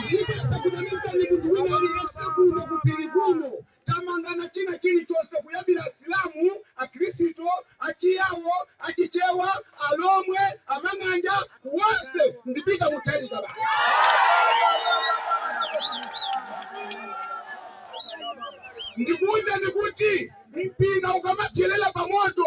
ndipo sakunamizani munthu wina aliyense kuno kupiri kuno tamangana china chilichonse kuyambira asilamu akhristu achiyawo achichewa alomwe amang'anja wonse ndipita muthalika basi ndikuwuzani kuti mpira ukamapyelela pamoto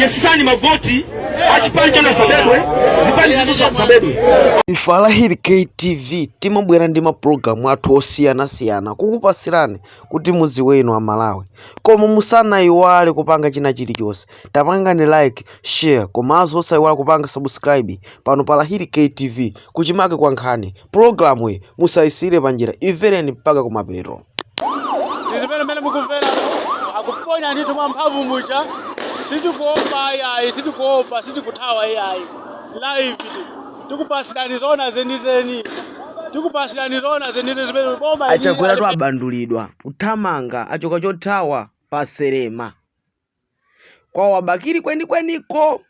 yesani mavoti achipani chanu asabedwe zipani nazozo asabedwe Ifa Lahiri KTV timabwera ndi mapulogalamu athu osiyanasiyana kukupasirani kuti mudziwe inu amalawi koma musanayiwale kupanga china chilichonse tapangani like share komanso osayiwala kupanga subscribe pano pa Lahiri KTV kuchimake kwa nkhani pulogalamuyi musayisire panjira imvereni mpaka kumapeto ndi zimene mene mukumvera akuponya ndithu mwa mphamvu muja sitikuopa ayayi sitikuopa sitikuthawa ayayi live tikupasirani zoona zenizeni tikupasirani zoona zenizeni zimene boma ili- achakweratu abandulidwa kuthamanga achoka chothawa paselema Kwawo kwa bakili kwenikweniko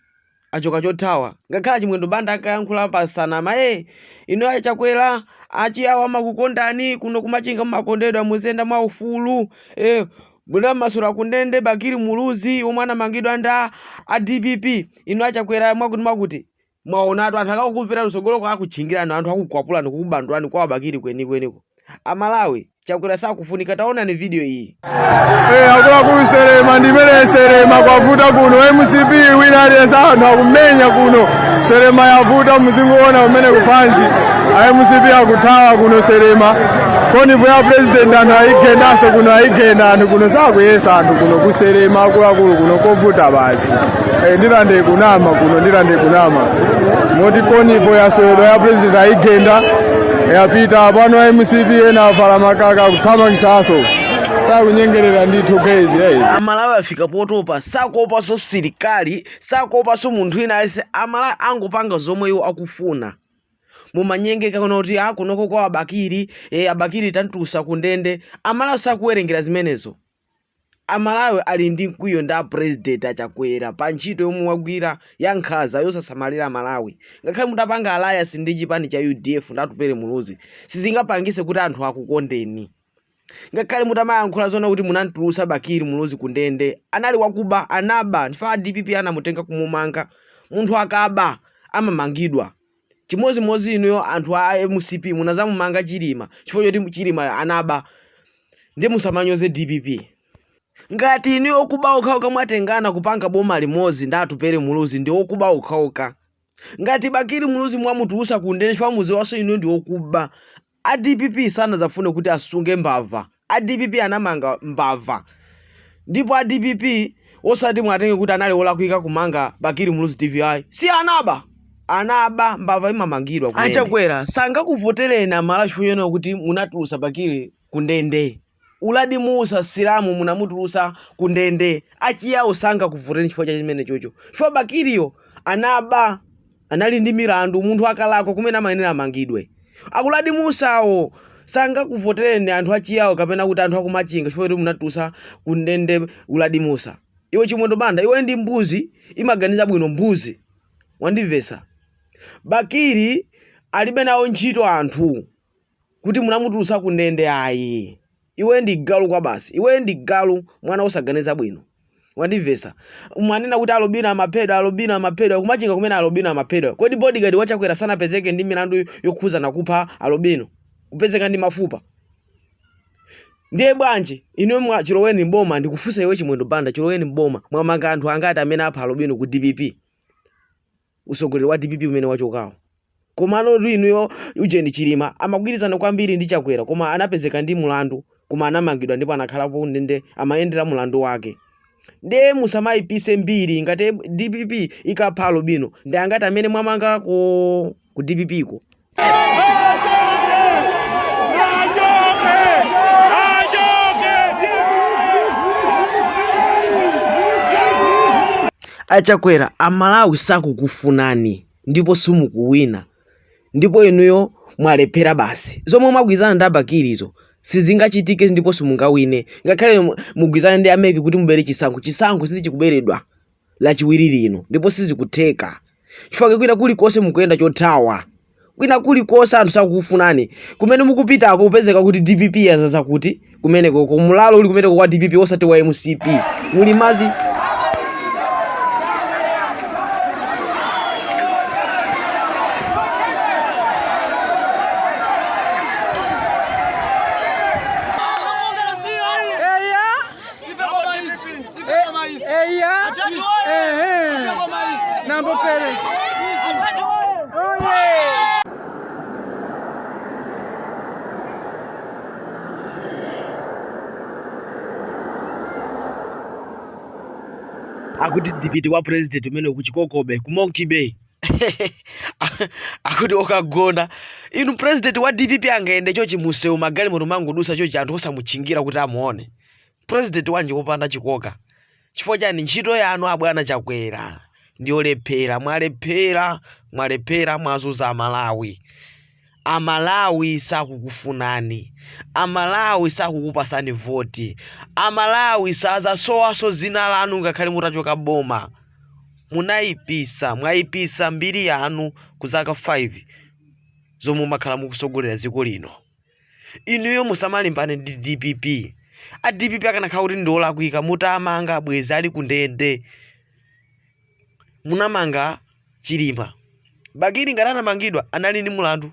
achoka chothawa ngakhale achimwendo banda ankayankhula pa nsanama ee inu a chakwera achiyawo amakukondani kuno kumachinga mumakondedwa muziyenda mwa ufulu ee munamasula kundende bakili muluzi omwe anamangidwa ndi a dpp inu a chakwera mwakuti mwakuti Mwaonatu anthu akakuvererani kutsogoloko akutchingirani anthu akukwapulani kukubandulani kwa Bakili kwenikweniko. A Malawi Chakwera sakufunika taonani video iyi. Eh, akuluakulu Selema ndi imene Selema kwavuta kuno mcp wina aliyense anthu akumenya kuno Selema yavuta muzingoona kumene kumpanje a mcp akuthawa kuno Selema convoy ya president anthu ayigendanso kuno ayigenda anthu kuno sakuyesa anthu kuno kuselema akuluakulu kuno kovuta basi Eh, ndilande kunama kuno ndilande kunama moti convoy yaswedwa ya president ayigenda yapita pano a mcp ena avula makaka kuwathamangitsanso sakunyengerera ndithu guys hey. amalawi afika potopa sakuopanso sirikali sakuopanso munthu wina aliyense amalawi angopanga zomwe iwo akufuna mumanyengeka kunena kuti a kunoko kwa abakili e, abakili tamtulutsa kundende amalawi sakuwerengera zimenezo A Malawi ali ndi mkwiyo ndi a President a Chakwera pa ntchito yomwe wagwira ya nkhaza yosasamalira Malawi. Ngakhale mutapanga alliance ndi chipani cha udf ndi Atupele Muluzi sizingapangise kuti anthu akukondeni. Ngakhale mutamayankhula zoona kuti munamtulutsa Bakili Muluzi ku ndende, anali wakuba, anaba, ndiye a dpp anamutenga kumumanga. Munthu akaba amamangidwa. Chimodzimodzi inuyo anthu a mcp munazamumanga chilima chifukwa choti chilima anaba ndiye musamanyoze dpp ngati inuyo okuba okhaoka mwatengana kupanga boma limodzi ndi atupele muluzi ndi okuba okhaoka ngati bakili muluzi mwamutulusa kundende chifukwa mudziwanso inuyo ndi okuba A dpp sanadzafune kuti asunge mbava. A dpp anamanga mbava. Ndipo a dpp osati muwatenge kuti anali olakwika kumanga Bakili Muluzi TV ayi. Si anaba! Anaba, mbava imamangidwa kumene. A Chakwera sangakuvotereni a Malawi chifukwa chonena kuti munatulusa Bakili ku ndende. Uladi Mussa silamu munamutulusa ku ndende achiyao sangakuvoteni chifukwa cha chimenechocho chifukwa Bakili yo anaba anali ndi milandu munthu akalakwa kumene amayenera amangidwe Uladi Mussa wo sangakuvotereni anthu achiyao kapena kuti anthu akumachinga chifukwa choti munatulusa ku ndende Uladi Mussa iwe Chimwendo Banda iwe ndi mbuzi imaganiza bwino mbuzi wandimvesa Bakili alibe nawo ntchito anthu kuti munamutulutsa ku ndende ayi iwe ndi galu kwabasi iwe ndi galu mwana wosaganiza bwino wandimvetsa umanena kuti alobino amaphedwa alobino amaphedwa kumachinga kumene alobino amaphedwa kodi bodyguard wachakwera sanapezeke ndi milandu yokhuzana ndi kupha alobino kupezeka ndi mafupa ndiye bwanji inuyo chiloweni mboma ndikufunsa iwe chimwendo banda chiloweni mboma mwamanga anthu angati amene apha alobino ku dpp utsogoleri wa dpp umene wachokawo komano inuyo ujeni chilima amagwirizana kwambiri ndi chakwera koma anapezeka ndi mulandu koma anamangidwa ndipo anakhalapo ndende amayendera mulandu wake ndiye musamayipise mbiri ngati dpp ikapha alobino ndi angati amene mwamangako ku dpp ko achakwera amalawi sakukufunani ndipo simukuwina ndipo inuyo mwalephera basi zomwe mwagwirizana ndi abakirizo sizingachitike ndipo simungawine ngakhale mugwirizane ndi ameki kuti mubere chisankho chisankho sichikuberedwa lachiwiri lino ndipo sizikutheka chifukwa kwina kulikonse mukuyenda chothawa kwina kulikonse anthu sakukufunani kumene mukupitako kupezeka kuti dpp yazaza kuti kumeneko koma ulamuliro uli kumeneko kwa dpp osati wa mcp muli mazi Eya. Ehe. Nambo pele. Oye. akuti dipiti wa president umene kuchikokobe ku monkey bay akuti okagona inu president wa dpp angayende chochi museu magalimoto amangodusa chochi anthu osamuchingamira kuti amuone president wanji wopanda chikoka chifukwa chani ntchito yanu abwana chakwera ndiyolephera mwalephera mwalephera mwazuza Amalawi Amalawi sakukufunani. Amalawi sakukupasani voti. Amalawi sazasowaso zina lanu ngakhale mutachoka boma. Munayipisa, mwayipisa mbiri yanu ku zaka 5 zomwe mwakhala mukusogolera dziko lino. Inuyo musamalimbane ndi dpp. A dpp akanakhala kuti ndi olakwika mutamanga bwezi ali ku ndende. Munamanga Chilima. Bakili ngati anamangidwa anali ndi mulandu.